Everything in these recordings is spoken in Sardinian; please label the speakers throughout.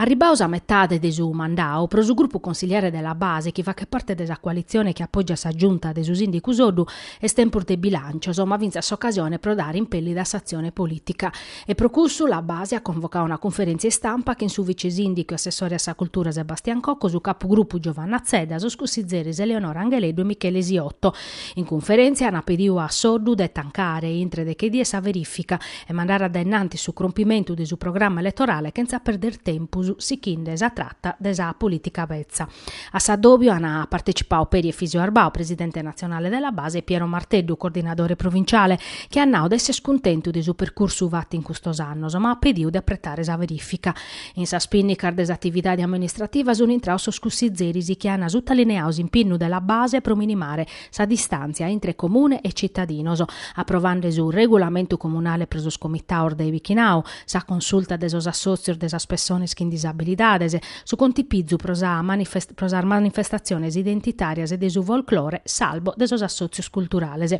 Speaker 1: Arribaos a metade de su mandau, pro su grupu consigliare de La Base chi faghet parte de sa coalitzione chi apògiat sa Giunta de su sìndicu Soddu, est tempus de bilàncios, ma fintzas s'ocasione pro dare impèllida a s'atzione polìtica. E pro cussu la Base at convocau una cunferèntzia istampa chin su vice-sìndicu e assessore a sa cultura Sebastian Cocco, su capugrupu Giovanna Zedda, sos cussizeres Eleonora Angheleddu e Michele Siotto. In cunferèntzia ant pediu a Soddu de tancare, intre deche dies sa verìfica, e mandare a dae innantis su crompimentu de su programma eletorale chentza perder tempus, sichende sa trata de sa polìtica betza. A s'addòbiu an partecipau peri Efisio Arbau, presidente natzionale de la base e Piero Marteddu, coordinadore provinciale, chi at nau de essere cuntentu de su percursu fatu in custos annos, ma at pediu de apretare sa verifica. In sas pinnicas de s'atividade amministrativa sunt intraus sos cussizeris chi an sutalineau s'impinnu de la base pro minimare sa distàntzia intre comune e citadinos, aprovende su Regulamentu comunale pro sos comitaos de bichinau, sa consulta de sos assòtzios de sas pessones chin disabilidades, Su contipizu pro sas manifestatziones identitàrias e de su folclore sarbu de sos assòtzios culturales.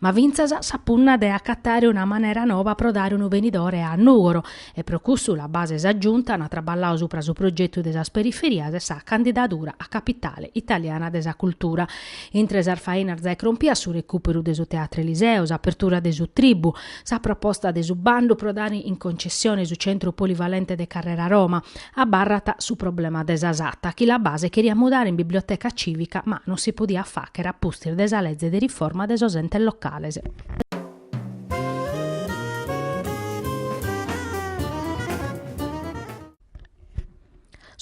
Speaker 1: Ma fintzas sa punna de acatare una manera noba pro dare unu benidore a Nùgoro e pro cussu la base e sa Giunta ant traballau supra su progetu de sas periferias e sa candidadura a capitale italiana de sa cultura. Intre sas fainas de crompire su recùperu de su Teatro Eliseo, s'apertura de su Tribbu, sa proposta de su bandu pro dare in concessione su Centru Polivalente de Carrera Roma, Abarrat su problema de sa Satta chi la base cheriat mudare in biblioteca cìvica ma non si podiat fàghere a pustis de sa lege de riforma de sos entes locales.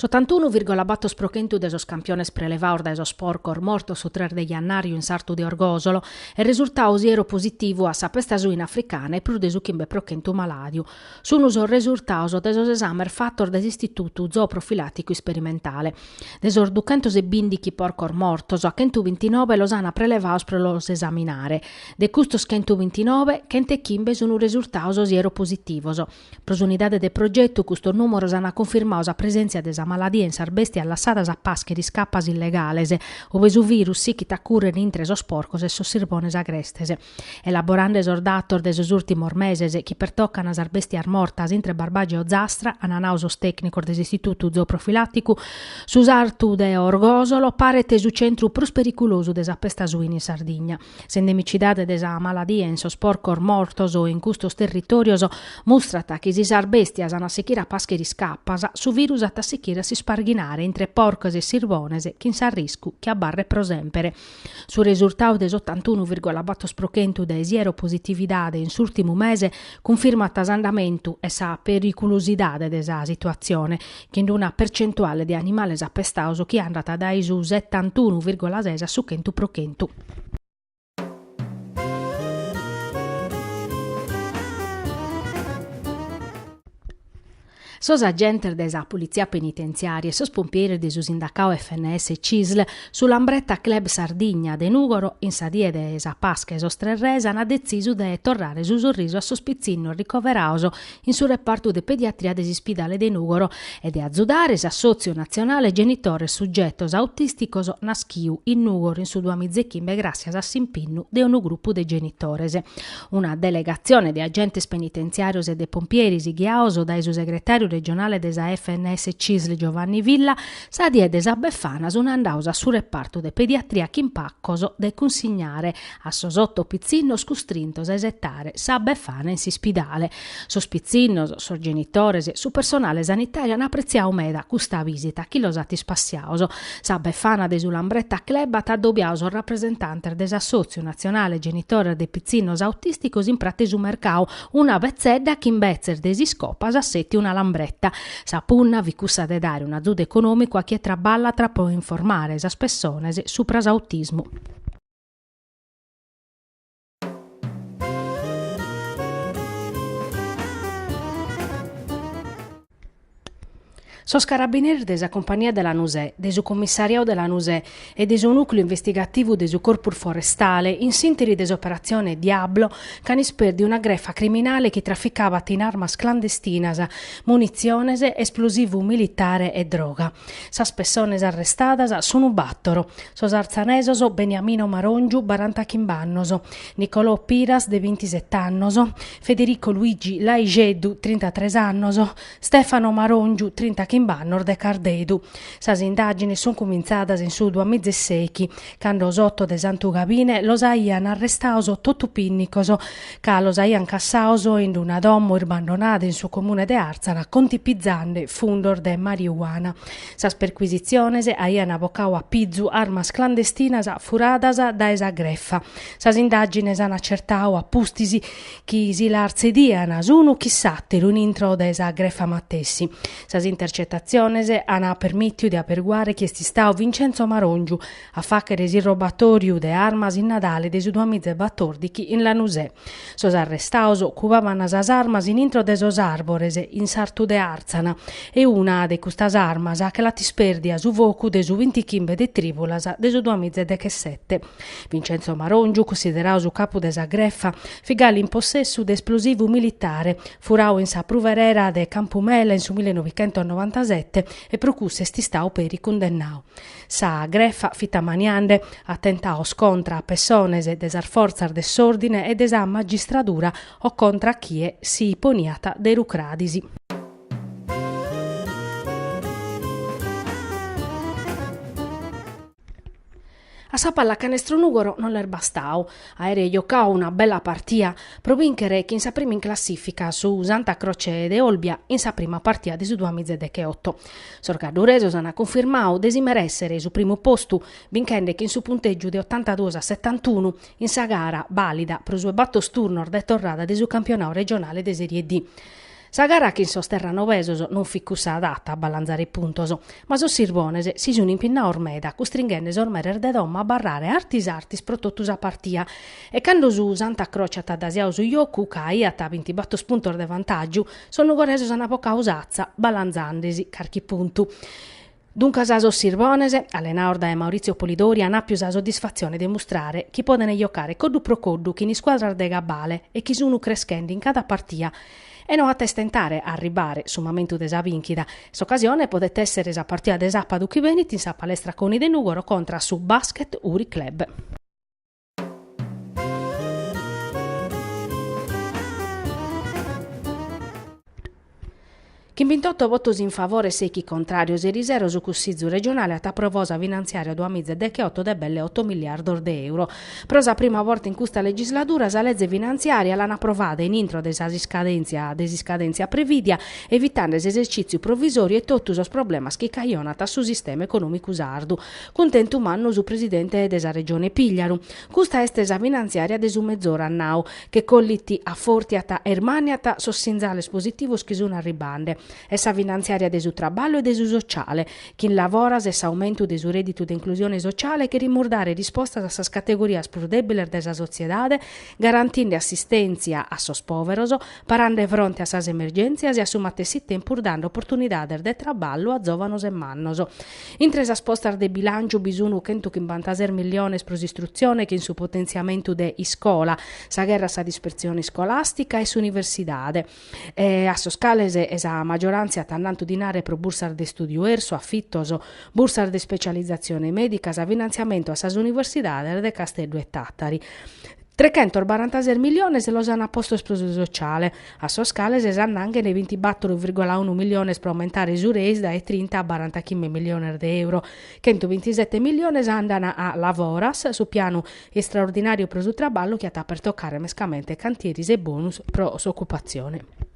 Speaker 1: S'otantunu virgola bator pro chentu de sos campiones prelevaos dae sos porcos mortos su tres de jannàriu in s'artu de Orgòsolo est resurtau sieropositivu a sa pesta suina africana e prus de su chimbe pro chentu malàdiu Sunt sos resurtaos de sos esames fatos dae s'Istitutu Zooprofilàticu Isperimentale. De sos duchentos e bìndichi porcos mortos, a chentu bintinove los ant prelevaos pro los esaminare. De custos chentu bintinove, chent'e chimbe sunt resurtaos sieropositivos. Pro s'unidade de progetu custos nùmeros ant cunfirmau sa presèntzia de sa maladia in sas bèstias lassadas a pàschere iscapas illegales, ue su virus sichit a cùrrere intre sos porcos e sos sirbones agrestes. Elaborande sos datos de sos ùrtimos meses chi pertocant sas bèstias mortas intre Barbàgia e Ozastra, ant nau sos tècnicos de s'Istitutu Zooprofilàticu, su sartu de Orgòsolo paret su centru prus periculosu de sa pesta suina in Sardigna. S'endemicidade de sa maladia in sos porcos mortos in custos territòrios mustrat chi si sas bèstias ant a sichire a pàschere iscapas, su virus at a sichire a s'isparghinare intre porcos e sirbones chin s'arriscu chi abarret pro sèmpere. Su resurtau de s'otantunu virgola bator pro chentu de sieropositividade in s'ùrtimu mese cunfirmat s'andamentu e sa periculusidade de sa situatzione, chin una percentuale de animales apestados chi andat dae su setantunu virgola ses a su chentu pro chentu. Sos agentes de sa Politzia Penitentziària e sos pompieris de su sindacau FNS Cisl, su Lambretta Club Sardigna de Nùgoro, in sa die de sa Pasca 'e sos Tres Res ant detzisu de torrare su sorrisu a sos pitzinnos ricoveraos in su repartu de pediatria de s'Ispidale de Nùgoro e de azudare s'Assòtziu Natzionale Genitores Sugetos Autìsticos naschiu in Nùgoro in su duamizechimbe gràssias a s'impinnu de unu grupu de genitores. Una delegatzione de agentes penitentziàrios e de pompieris ghiaos dae su segretàriu regionale de sa FNS-CISL Giovanni Villa, sa die de sa Befana sunt andaos a su repartu de pediatria chin pacos de cunsignare a sos oto pitzinnos custrintos a isetare sa Befana in s'ispidale. Sos pitzinnos, sos genitores, su personale sanitàriu an apretziau meda custa visita chi los at ispassiaos. Sa Befana de su Lambretta Club at adobiau sos rapresentantes de s'Assòtziu natzionale genitores de pitzinnos autìsticos in Pratza 'e su Mercau, una betzedda chi imbetzes de s'iscopa s'at sètiu una lambretta. Sa punna fit cussa de dare un'azudu econòmicu a chie traballat pro informare sas pessones subra s'autismu. Sos carabineris de sa Compagnia de Lanusè, de su Commissariau de Lanusè e de su Nùcleu Investigativu de su Corpus Forestale, in s'ìnteri de s'operatzione Diablo, ch'ant ispèrdiu una grefa criminale chi traficabat in armas clandestinas, munitziones, esplosivu militare e droga. Sas pessones arrestadas sun bàtoro, sos artzanesos Beniamino Maròngiu, baranta chimb'annos, Nicolò Piras, de bintisete annos, Federico Luigi Laisceddu, trintatres annos, Stefano Maròngiu, trinta chimb'annos, de Cardedu. Sas indàgines sun cumintzadas in su duamizesèichi Cando s'oto de Santu Gabine los aian arrestados totu pinnicos, ca los aian cassados in una domo irbandonada in su comune de Àrtzana contipizande fundos de mariuana. Sas percuisitziones aian bocadu a pizu armas clandestinas furadas dae sa grefa. Sas indàgines an acertadu a pustis chi si las tzedian s'unu chin s'àteru in intro de sa grefa matessi. Sas intercetatziones an permìtiu de aberguare chi est istadu Vincenzo Maròngiu a fàghere s'irrobatòriu de armas in Nadale de su duamizebbatòrdichi in Lanusè. Sos arrestados cubaban sas armas in intro de sos àrbores in sartu de Àrtzana e una de custas armas che l'at ispèrdia su focu de su bintichimbe de trìbulas de su duamizedechesete. Vincenzo Maròngiu, cussideradu su capu de sa grefa, fit galu in possessu de esplosivu militare, Furau in sa pruverera de Campumela in su millenovichentosnovantasete e pro cussu est istau peri cundennau. Sa grefa fit ammaniande atentados contra a pessones de sas fortzas de s'òrdine e de sa magistradura o contra a chie si poniat de rucradis. A sa pallacanestro Nùgoro non l'est bastau àere jocau una bella partia pro bìnchere chin sa prima in classìfica su Santa Croce de Olbia in sa prima partia de su duas miza e decheoto. Sos gadduresos ant cunfirmau de si merèssere su primu postu binchende chin su puntègiu de otantaduos a setantunu in sa gara bàlida pro su 'e bator turnos de torrada de su campionau regionale de Serie D. Sa gara chin sos terranovesos non fit cussa adatta a balanzare puntos, ma sos sirbones si sun impinnados meda custringhende sos meres de domo a abarrare artis artis pro totu sa partia e cando su Santa Croce at adasiadu su jocu ca aiat bintibator puntos de vantàgiu sos nugoresos an bocadu s'atza balanzandesi carchi puntu Duncas sos Sirbones, allenados dae Maurizio Polidori an àpiu sa soddisfatzione de mustrare chi podent jocare coddu pro coddu chin iscuadras de cabale e chi sun creschende in cada partia e no at a istentare a arribare su mamentu de sa bìnchida. S'ocasione podet èssere sa partia de sàpadu chi benit in sa Palestra Coni de Nùgoro contra a su Basket Uri Club. Chin bintotto votos in favore e sèichi contràrios, eri sero su Cussizu regionale at aprovadu sa finantziària duas miza e decheotto de belle otto miliardos de euro. Pro sa prima borta in custa legisladura sa leze finantziària l'an aprovada in intro de sas iscadèntzia de s'iscadèntzia prevìdia, evitande s'esercìtziu provisòriu e totu sos problemas chi cajonant a su sistema econòmicu sardu. Cuntentu mannu su presidente de sa Regione Pìgliaru. Custa est sa finantziària de su mezoru, at nau, che collit, afòrtiat e ermàniat sos sinzales positivos chi sun arribbande. Est sa finantziària de su traballu e de su sociale, chin Lavoras e s'aumentu de su rèdditu de inclusione sociale cherimus dare rispostas a sas categorias prus dèbiles de sa sotziedade, garantinde assistèntzia a sos pòveros, parande fronte a sas emergèntzias e a su matessi tempus dande oportunidades de traballu a zòvanos e mannos. Intre sas postas de bilànciu bi sun chentu chimbantases miliones pro s'istrutzione chin su potentziamentu de Iscola, sa gherra a sa dispertzione iscolàstica e s'universidade, a sos cales sa maggioràntzia at annantu dinare pro bursas de istùdiu Ersu, afitos, bursas de ispetzializatzione mèdica, sa finantziamentu a sas universidades de Casteddu e Tàtari. Trechentos barantases miliones los ant postos pro su sociale, a sos cales s'annanghent bintibàtoro virgola unu miliones pro aumentare su Reis dae trinta a barantachimbe miliones de euro. Chentu bintisette miliones andant a Lavoras, su pianu istraordinàriu pro su traballu chi at a pertocare mescamente cantieres e bonus pro s'ocupatzione.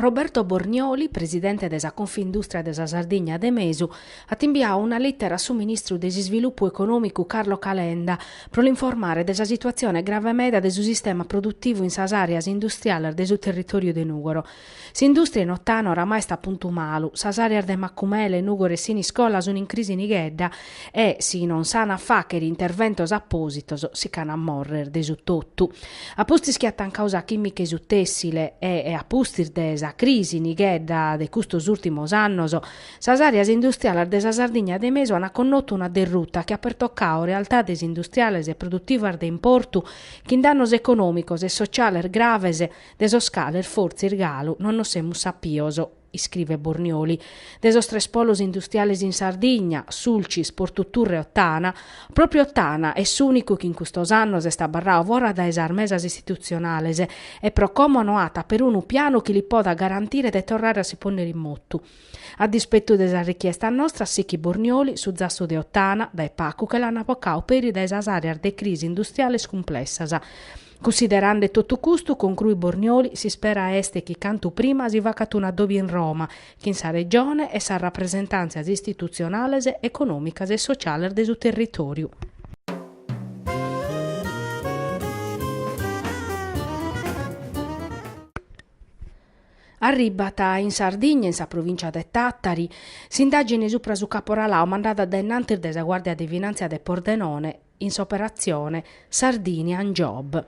Speaker 1: Roberto Bornioli, presidente de sa Confindustria de sa Sardigna de Mesu, at imbiadu una lìtera a su ministru de s'Isvilupu Econòmicu Carlo Calenda pro l'informare de sa situatzione grave meda de su sistema produtivu in sas àreas industriales de su territòriu de Nùgoro. S'indùstria in Ottana oramai est a puntu malu, sas àreas de Macumele, Nùgoro e Siniscola sunt in crisi nighedda E si non s'an a fàghere interventos apòsitos si ch'an a mòrrere de su totu. A pustis chi at tancadu sa chìmica e su tèssile e a pustis de sa crisi nighedda de custos ùrtimos annos, sas àreas industriales de sa Sardigna de mesu an connotu una derruta chi at pertocadu realtades industriales e produtivas de importu chin dannos econòmicos e sociales graves de sos cales fortzis galu non nos semus sapidos iscrivet Bornioli, de sos tres polos industriales in Sardigna, Sulcis, Portu Turre e Ottana, pròpriu Ottana est s'ùnicu chi in custos annos est abarradu fora dae sas mesas istitutzionales e pro como no at perunu pianu chi li podat garantire de torrare a si pònnere in motu. A dispetu de sas richiestas nostras, sichit Bornioli, su zassu de Ottana, dae pagu che l'an bocadu peri dae sas àreas de crisi industriales cumplessas, Cunsiderande totu custu, concruit Bornioli, s'ispera est chi cantu prima si facat un'addòbiu in Roma, chin sa Regione e sas rapresentàntzias istitutzionales, econòmicas e sociales de su territòriu. Arribat in Sardigna, in sa provìncia de Tàtari, s'indàgine subra su caporaladu mandada dae in antis dae sa Guàrdia de Finàntzia de Pordenone, in s'operatzione Sardinian Job.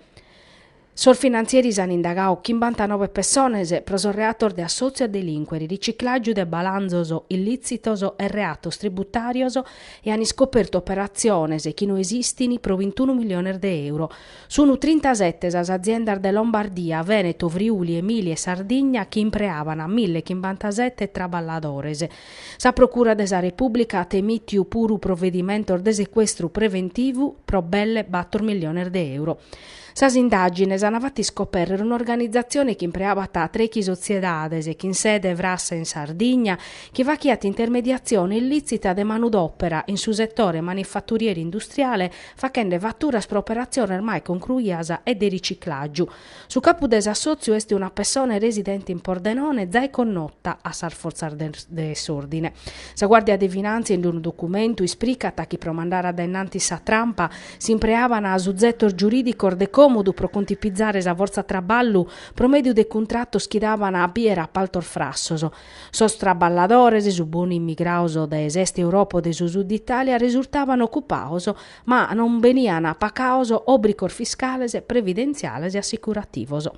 Speaker 1: Sos finantzieris an indagadu chimbantanobe pessones pro sos reatos de assòtziu a delìncuere, riciclàgiu de balanzos illìtzitos e reatos tributàrios e an iscopertu operatziones chi no esistint pro bintunu miliones de euro. Sunt trintasete sas aziendas de Lombardia, Vèneto, Friuli, Emilia e Sardigna chi impreaban mille e chimbantasete traballadores. Sa Procura de sa Repùblica at emìtiu puru provedimentos de secuestru preventivu pro belle bator miliones de euro. Sas indàgines ant fatu iscopèrrere un'organizatzione chi impreabat trechi sotziedades chin sede frassa in Sardigna chi faghiant intermediatzione illìtzita de manudòpera in su setore manifaturieri-industriale faghende faturas pro operatziones mai concruidas e de riciclàgiu Su capu de s'assòtziu est una pessone residente in Pordenone zai connota a sas fortzas de s'òrdine. Sa Guàrdia de Finàntzia in unu documentu ispricat chi pro mandare dae innantis sa trampa s'impreaban suzetos giurìdicos de còmodu pro cuntipizare sa fortza traballu pro mèdiu de cuntratos chi daban a bier apaltos frassos sos traballadores, su bonu immigrados dae s'est Europa o de su Sud Itàlia, resurtaban ocupados ma non benian pagados òbricos fiscales, previdentziales e assicurativos.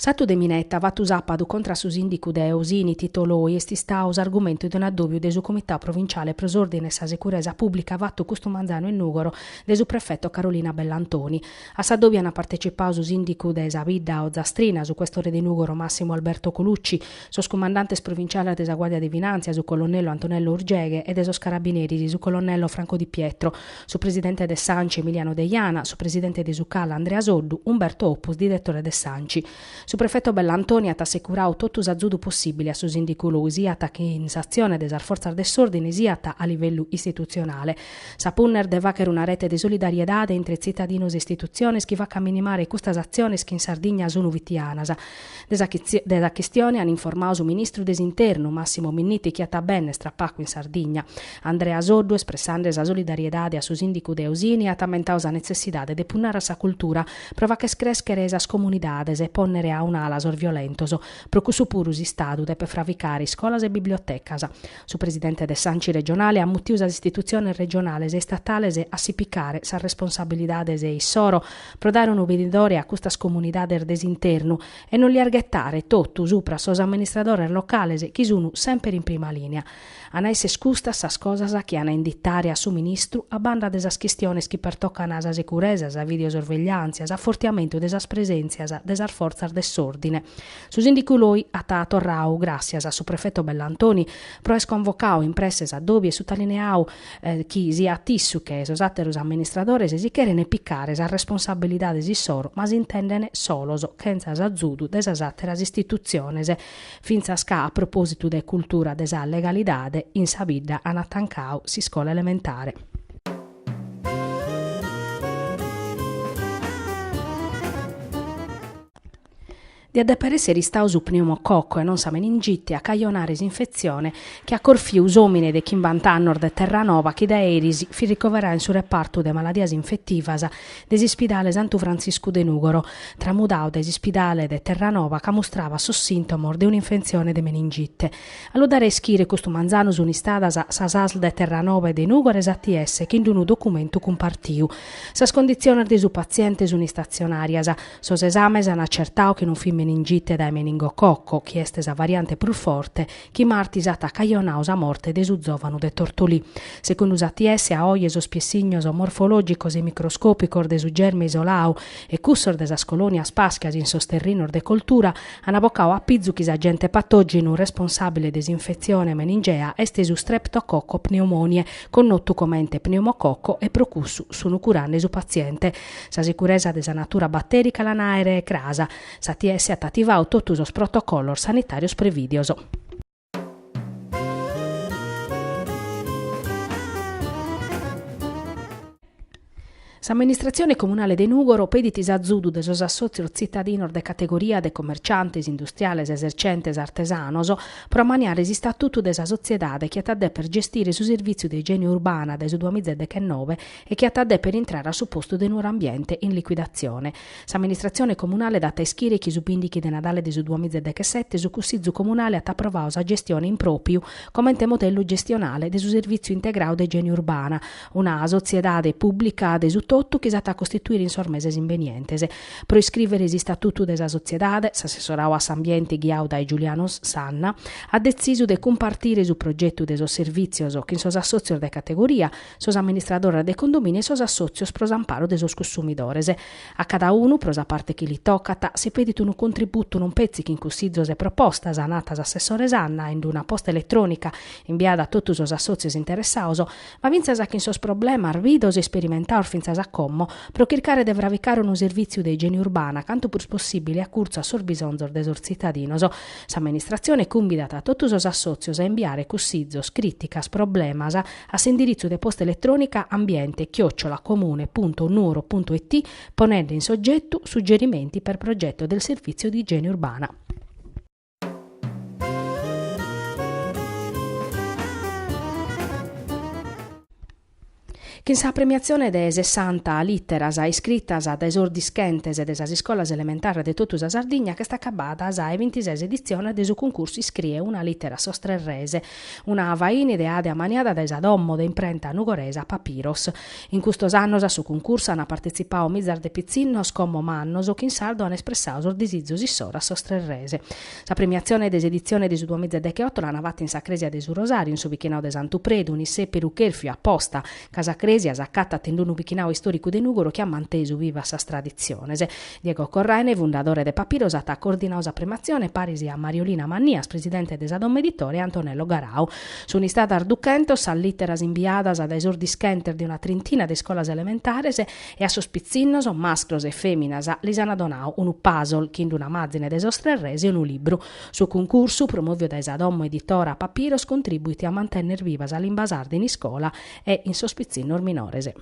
Speaker 1: S'atu de minetta fatu sàpadu contra a su sìndicu de Osini Tito Loi est istadu s'argumentu de un addòbiu de su Comitau Provinciale pro s'Òrdine e sa Seguresa Pùblica fatu custu manzanu in Nùgoro de su prefeto Carolina Bellantoni. A s'addòbiu ant partecipau su sìndicu de sa bidda ozastrina, su questore de Nùgoro Massimo Alberto Colucci, sos cumandantes provinciales de sa Guàrdia de Finàntzia, su colonnello Antonello Urgeghe, e de sos carabineris, su colonnello Franco Di Pietro, su presidente de s'Anci Emiliano Deiana, su presidente de su Cal Andrea Soddu, Umberto Oppus, diretore de s'Anci. Su prefeto Bellantoni at assecurau totu s'azudu possìbile a su sìndicu Loi, siat in s'atzione de sas fortzas de s'òrdine siat a livellu istitutzionale. Sa punna est de fagher una rete de solidariedade intre tzitadinos e istitutziones chi facat minimare custas atziones chi in Sardigna sun fitianas. De sa chistione an informadu su ministru de s'Internu, Massimo Minniti chi at a bènner tra pagu in Sardigna. Andrea Soddu, espressende sa solidariedade a su sìndicu de Osini, at ammentadu sa netzessidade de punnare a sa cultura pro fagher crèschere sas comunidades e pònnere a un'ala sos violentos. Pro cussu puru s'Istadu depet fravicare iscolas e bibliotecas. Su presidente de s'Anci regionale at mutiu sas istitutziones regionales e istatales a si picare sas responsabilidades issoro pro dare unu benidore a custas comunidades de s'internu e non lias ghetare totu supra sos amministradores locales chi sunu semper in prima linea. An a esser custas sas cosas chi an a inditare a su ministru a banda de sas chistiones chi pertocan a sa seguresa, sa videosorvegliàntzia, s'afortiamentu de sas presèntzias de sas fortzas de s'òrdine, Su sìndicu Loi at torrau gràssias a su prefetu Bellantoni pro aer convocau in presse s'adòbiu e sutalineau chi siat issu che sos àteros amministradores si cherent picare sas responsabilidades issoro ma s'intendent solos chentza s'azudu de sas àteras istitutziones fintzas ca a propòsitu de cultura de sa legalidade in sa bidda an atancau s'iscola elementare. Diat deper èssere istadu su pneumococo e non sa meningite a cajonare s'infetzione chi at corfiu s'òmine de chimbant'annos de Terranova chi dae eris fit ricoveradu in su repartu de maladias infetivas de s'ispidale Santu Frantziscu de Nùgoro, tramudadu dae s'ispidale de Terranova ca mustrabat sos sìntomos de un'infetzione de meningite. A lu dare a ischire custu manzanu sunt istadas sas Asl de Terranova e de Nùgoro e s'ATS chi in unu documentu cumpartiu sas conditziones de su patziente sunt istatzionàrias, Sos esames an acertadu chi non fit meningite dae meningococco, chi est sa variante prus forte, chi martis at cajonadu sa morte de su zòvanu de Tortolì. Segundu s'ATS a oe sos piessignos morfològicos e microscòpicos de su germe isoladu e cussos de sas colònias pàschias in sos terrinos de coltura an abocadu a pizu chi s'agente patògenu responsàbile de s'infetzione meningea est su Streptococco pneumoniae connotu comente pneumococco e pro cussu sunu curende su patziente Sa sicuresa de sa natura batèrica l'an a àere cras, s'ATS at ativadu totu sos protocollos sanitàrios prevìdios. S'amministratzione comunale de Nùgoro pedit s'azudu de sos assòtzios tzitadinos de categoria de comerciantes, industriales, esercentes, artesanos, pro amaniare s'istatutu de sa sotziedade chi at a dèpere gestire su servìtziu de igiene urbana dae su duamiza e dechennove e chi at a dèpere intrare a su postu de Nuoro Ambiente in liquidatzione. S'amministratzione comunale dat a ischire chi su bìndighi de Nadale de su duamiza e dechesete su Cussizu comunale at aprovadu sa gestione in pròpiu comente modellu gestionale de su Servìtziu integradu de igiene urbana, una sotziedade pùblica de su totu chi s'at a costituire in sos meses imbenientes. Pro iscrìvere s'istatutu de sa sotziedade, s'assessoradu a s'ambiente ghiadu dae Giuliano Sanna at detzisu de cumpartire su progetu de sos servìtzios chin sos assòtzios de categoria, sos amministradores de condomìniu e sos assòtzios pro s'amparu de sos cussumidores. A cada unu, pro sa parte chi li tocat, si pedit unu contributu non petzi chin cussizos e propostas, nat s'assessore Sanna in una posta eletrònica imbiada a totu sos assòtzios interessados, ma fintzas chin sos problemas bidos e isperimentados fintzas a como, pro chircare de fravicare unu servìtziu de igiene urbana cantu prus possìbile acurtzu a sos bisonzos de sos tzitadinos. S'amministratzione cumbidat a totu sos assòtzios a imbiare cussizos, crìticas, problemas, a s'indiritzu de posta eletrònica ambiente chiocciola comune punto nuoro punto it ponende in s'ogetu suggerimenti per progetto del servizio di igiene urbana. Chin sa premiatzione de sessanta lìteras iscritas dae sos dischentes de sas iscolas elementares de totu sa Sardigna ch'est acabbada sa 'e bintises editzione de su cuncursu Iscrie una lìtera a sos tres res, Una faina ideada e amaniada dae sa domo de imprenta nugoresa Papiros. In custos annos a su cuncursu ant partetzipadu mizas de pitzinnos como mannos chi in sardu ant espressadu sos disizus issoro a sos tres res. Sa premiatzione de s'editzione de su duamiza e deghe-oto l'ant fata in sa Crèsia de su Rosàriu in su bichinadu de Santu Predu, un'issèperu chèrfiu aposta ca sa crèsia s'acatat in unu bichinadu istòricu de Nùgoro chi at mantesu bivas sas traditziones. Diego Corraine, fundadore de Papiros, at coordinadu sa premiatzione paris a Mariolina Mannias, presidente de sa domo editora, e Antonello Garau. Sunt istadas duchentos sas lìteras imbiadas dae sos dischentes de una trintina de iscolas elementares e a sos pitzinnos, mascros e fèminas, lis ant donadu unu puzzle chin una màzine de sos tres res e unu libru, Su cuncursu, promòviu dae sa domo editora Papiros, contrìbuit a mantènnere viva sa limba sarda in iscola e in sos pitzinnos minores.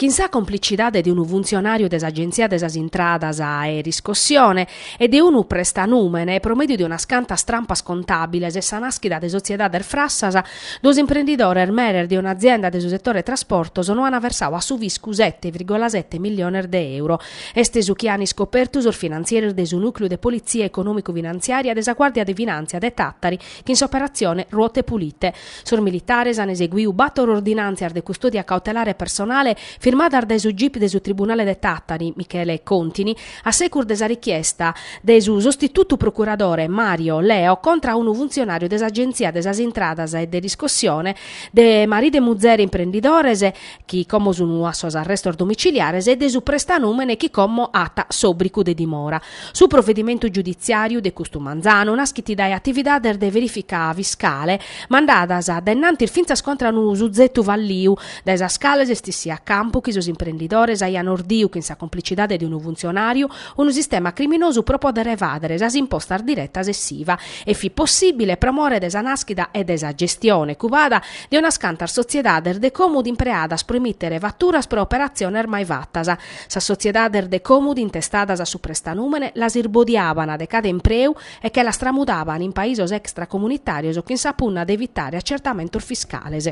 Speaker 1: Chin sa complicidade de unu funtzionàriu de s'Agenzia de sas Intradas e Riscossione e de unu prestanùmene, pro mèdiu de unas cantas trampas contàbiles e sa nàschida de sotziedades frassas, Duos imprendidores meres de un'azienda de su setore trasportos no an versadu a su fiscu sete virgola sete milliones de euro. Est su chi an iscopertu sos finantzieres de su nùcleu de politzia econòmicu-finanziària de sa Guàrdia de Finàntzia de Tàtari chin s'operatzione Ruote Pulite. Sos militares an eseguiu bàtor ordinàntzias de custòdia cautelare personale firmadas dae su gip de su Tribunale de Tàtari, Michele Contini, A segus de sa richiesta de su sostitutu procuradore Mario Leo contra a unu funtzionàriu de s'Agenzia de sas Intradas e de riscossione, de maridu e muzere imprendidores chi como sun a sos arrestos domiciliares e de su prestanùmene chi como at s'òbricu de dimora. Su provedimentu giuditziàriu de custu manzanu naschit dae atividades de verìfica fiscale mandadas a dainnantis fintzas contra a unu suzetu falliu dae sas cales est issiu a campu chi sos imprendidores aian ordiu chin sa complicidade de unu funtzionàriu unu sistema criminosu pro pòdere evàdere sas impostas diretas e s'IVA e fit possìbile pro more de sa nàschida e de sa gestione cubada de unas cantas sotziedades de còmudu impreadas pro emìtere faturas pro operatziones mai fatas. Sas sotziedades de còmudu intestadas a su prestanùmene las irbodiaban de cada impreu e che las tramudaban in paisos extracomunitàrios chin sa punna de evitare acertamentos fiscales.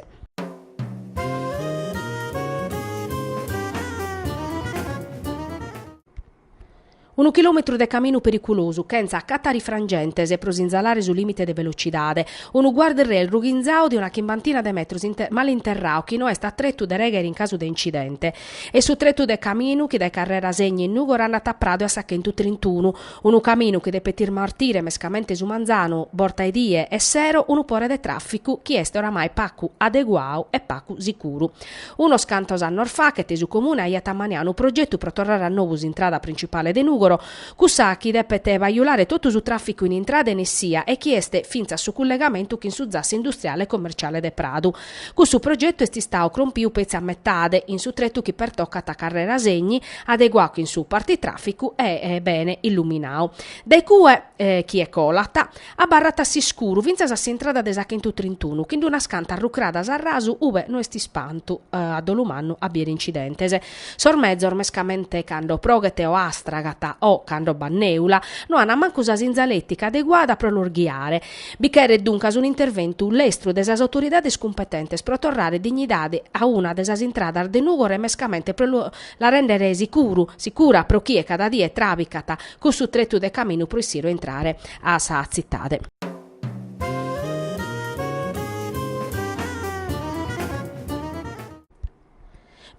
Speaker 1: Unu chilòmetru de caminu periculosu, chentza catarifrangentes pro sinzalare su lìmite de velocidade. Unu guard-rail rughinzadu de una chimbantina de metros male interradu chi no est a tretu de règhere in casu de incidente. Est su tretu de caminu chi dae Carrera Segni in Nùgoro andat a Pradu e a sa chentu trintunu. Unu caminu chi depet ismartire mescamente su manzanu, borta 'e die, e sero unu pore de tràficu chi est oramai pagu adeguadu e pagu sicuru. Unos cantos annos faghet su Comune aiat ammaniadu unu progetu pro torrare a nou s'intrada printzipale de Nùgoro, cussa chi depet bajulare totu su tràficu in intrada e in essia e chi est fintzas su cullegamentu chin su zassu industriale e commerciale de Pradu. Cussu progetu est istadu crompiu petzi a metade, in su tretu chi pertocat a Carrera Segni, adeguadu chin su partitraficu e bene illuminadu. Dae cue, chie colat, abarrat a s'iscuru fintzas a s'intrada de sa Chentu Trintunu, chin d'unas cantas rucradas a rasu ube no est ispantu, a dolu mannu, a bìere incidentes. Sos mezos, mescamente cando proghet o astragat o cando b'at nèula, no an mancu sa sinzaletica adeguada pro los ghiare, Bi cheret duncas un'interventu lestru de sas autoridades cumpetentes pro torrare dignidade a una de sas intradas de Nùgoro e mescamente pro la rèndere sicuru, sicura pro chie cada die tràbicat cussu tretu de caminu pro essire o intrare a sa tzitade.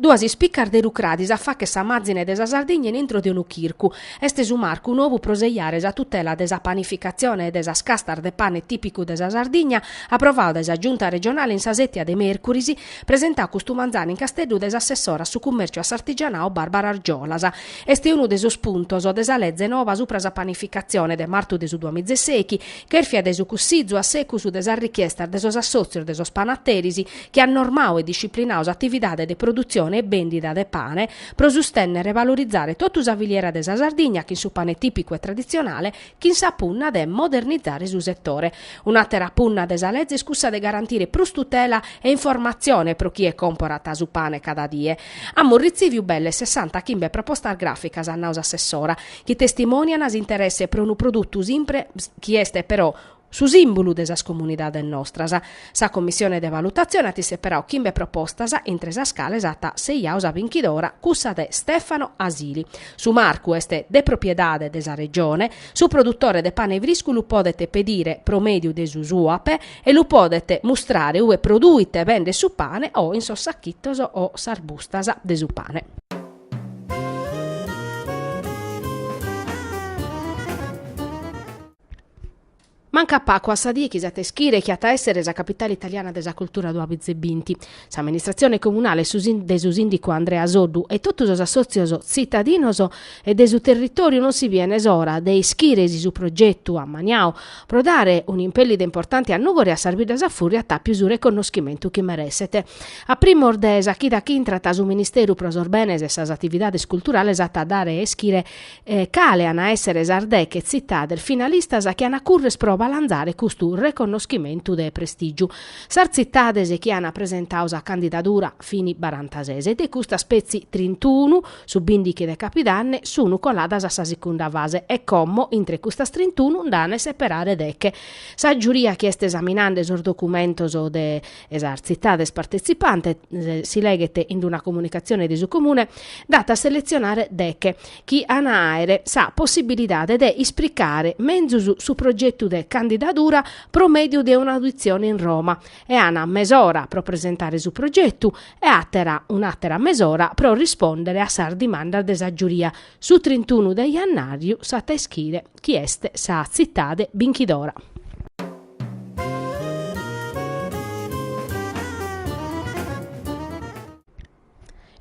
Speaker 1: Duas ispicas de rucradis a fàcher sa màzine de sa Sardigna in intro de unu chircu. Est su marcu nobu pro sejare sa tutela de sa panificatzione e de sas castas de pane tìpicu de sa Sardigna, aprovadu dae sa Giunta regionale in sa sètia de mèrcuris, presentadu custu manzanu in Casteddu dae s'assessora a su cummèrciu e a s'artigianau Barbara Argiolas. Est unu de sos puntos de sa leze nova subra sa panificatzione de martu de su duamizesèichi, chèrfia dae su Cussizu a secus de sas richiestas de sos assòtzios de sos panateris, chi at normadu e disciplinadu s'atividade de produtzione e bèndida de pane pro sustènnere e valorizare totu sa filiera de sa Sardigna chin su pane tìpicu e traditzionale chin sa punna de modernizare su setore. Un'àtera punna de sa leze est cussa de garantire prus tutela e informatzione pro chie comporat su pane cada die. Amus retziviu belle sessanta chimbe propostas gràficas, at nadu s'assessora, chi testimònian s'interesse pro unu produtu simpre chi est però su sìmbulu de sas comunidades nostras. Sa commissione de valutatzione at isseperadu chimbe propostas, intre sas cales at sejadu sa binchidora cussa de Stefano Asili. Su marcu est de propiedade de sa Regione, su produtore de pane friscu lu podet pedire pro mèdiu de su Suap e lu podet mustrare ue produit e bendet su pane o in sos sachitos o sas bustas de su pane. Mancat pagu a sa die chi s'at a ischire chi at a èssere sa capitale italiana de sa cultura duamìgias e binti. S'amministratzione comunale de su sìndicu Andrea Soddu e totu sos assòtzios tzitadinos e de su territòriu non si bient s'ora de ischire si su progetu ammaniadu pro dare un'impèllida importante a Nùgoro e a sas biddas a fùrria at a àere su reconnoschimentu chi mereset. A primos de sa chida chi intrat su Ministeru pro sos Benes e sas Atividades Culturales at a dare a ischire cale an a èssere sas deche tzitades finalistas chi an a currer pro abalanzare custu reconnoschimentu de prestìgiu? Sas tzitades chi an presentadu sa candidadura fini barantasès e de custas petzi trintunu, su bìndighi de capidanne, sun coladas a sa segunda fase e como intre custas trintunu nd'an a seperare deche. Sa giuria chi est esaminende sos documentos de sas tzitades partetzipantes, si leghet in una comunicatzione de su Comune, nd'at a seletzionare deghe, chi an a àere sa possibilidade de ispricare menzus su progetu de candidadura pro mèdiu de un'auditzione in Roma, e an a àere mesora pro presentare su progetu e àtera un'àtera mesora pro rispòndere a sas dimandas de sa giuria, su trintunu de jannàriu s'at a ischire chi est sa tzitade binchidora.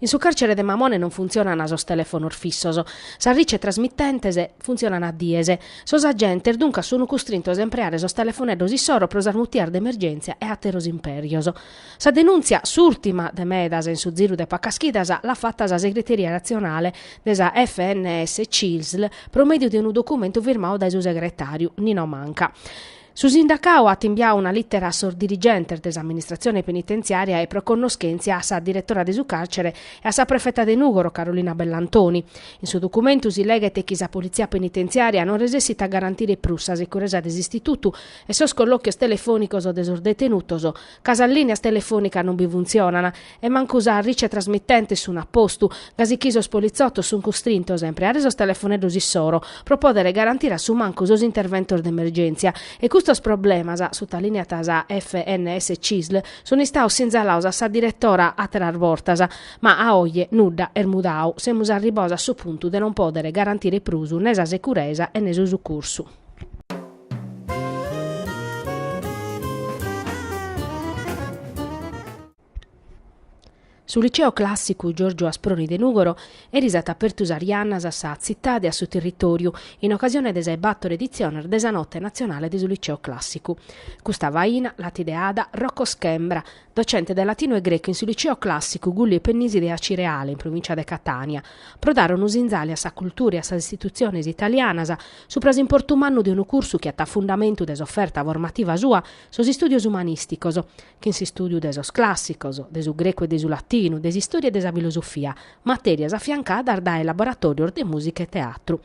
Speaker 1: In su càrcere de Mamone non funtzionant sos telefonos fissos, sas ricetrasmitentes funtzionant a dies. Sos agentes duncas sunt custrintos a impreare sos telefoneddos issoro pro sas mutias de emergèntzia e àteros impèrios. Sa denùntzia, s'ùrtima de medas in su ziru de pacas chidas, l'at fata sa segreteria natzionale de sa FNS-CISL pro mèdiu de unu documentu firmadu dae su segretàriu Nino Manca. Su sindacadu at imbiadu una lìtera a sos dirigentes de s'amministratzione penitentziària e pro connoschèntzia a sa diretora de su càrcere e a sa prefeta de Nùgoro Carolina Bellantoni. In su documentu si leghet chi sa politzia penitentziària non resessit a garantire prus sa securesa de s'istitutu e sos collòchios telefònicos de sos detenutos, ca sas lìneas telefònicas non bi funtzionant e mancu sas ricetrasmitentes sun a postu, gasi chi sos politzotos sun custrintos a impreare sos telefoneddos issoro pro pòdere garantire a su mancu sos interventos de emergèntzia. E custos problemas, sutalìneat sa FNS-CISL, sun istados sinzalados a sa diretora àteras bortas, ma a oje nudda est mudadu, semus arribados a su puntu de non pòdere garantire prus ne sa securesa e ne su sucursu. Su Liceo Clàssicu Giorgio Asproni de Nùgoro eris at apertu sas jannas a sa tzitade e a su territòriu in ocasione de sa 'e bator editziones de sa Note natzionale de su Liceo Clàssicu. Custa faina l'at ideada Rocco Schembra, docente de latinu e grecu in su Liceu Clàssicu Gulli e Pennisi de Acireale, in provìncia de Catània, pro dare unu sinzali a sa cultura e a sas istitutziones italianas, subra s'importu mannu de unu cursu chi at fundamentu de s'oferta formativa sua sos istùdios umanìsticos, chin s'istùdiu de sos clàssicos, de su grecu e de su latinu, de s'istòria e de sa filosofia, matèrias afiancadas dae laboratòrios de mùsica e teatru.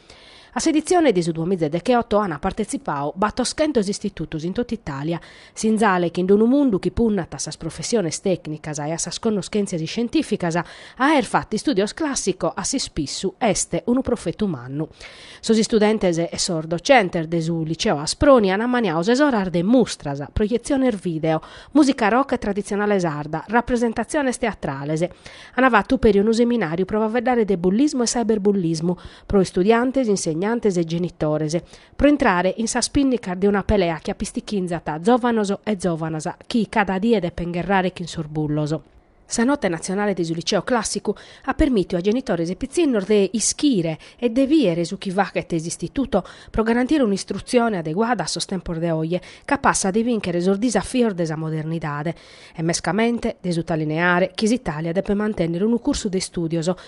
Speaker 1: A s'editzione de su duamiza e decheoto ant partetzipau batoschentos istitutos in tot'Itàlia, Sinzale chi in d-unu mundu chi punnat a sas professiones tècnicas e a sas connoschèntzias iscientìficas aer fatu istùdios clàssicos a s'ispissu est unu profetu mannu. Sos istudentes e sos docentes de su Liceo Asproni an ammaniau ses oras de mustras, proietziones video, mùsica rock e traditzionale sarda, rapresentatziones teatrales. An fatu peri unu seminàriu pro faveddare de bullismu e cyberbullismu pro istudiantes, insegnantes e genitores. pro intrare in sas pìnnicas de una pelea chi apistichinzat zòvanos e zòvanas chi cada die depen gherrare chin sos bullos. Sa notte natzionale de su Liceo Clàssicu at permìtiu a genitores e pitzinnos de ischire e de bìere su chi fachet s'istituto pro garantire un'istrutzione adeguada a sos tempos de oje, capassa de bìnchere sos disafios de sa modernidade e, mescamente, de sutalineare chi s'Itàlia depet mantènnere unu cursu de istùdios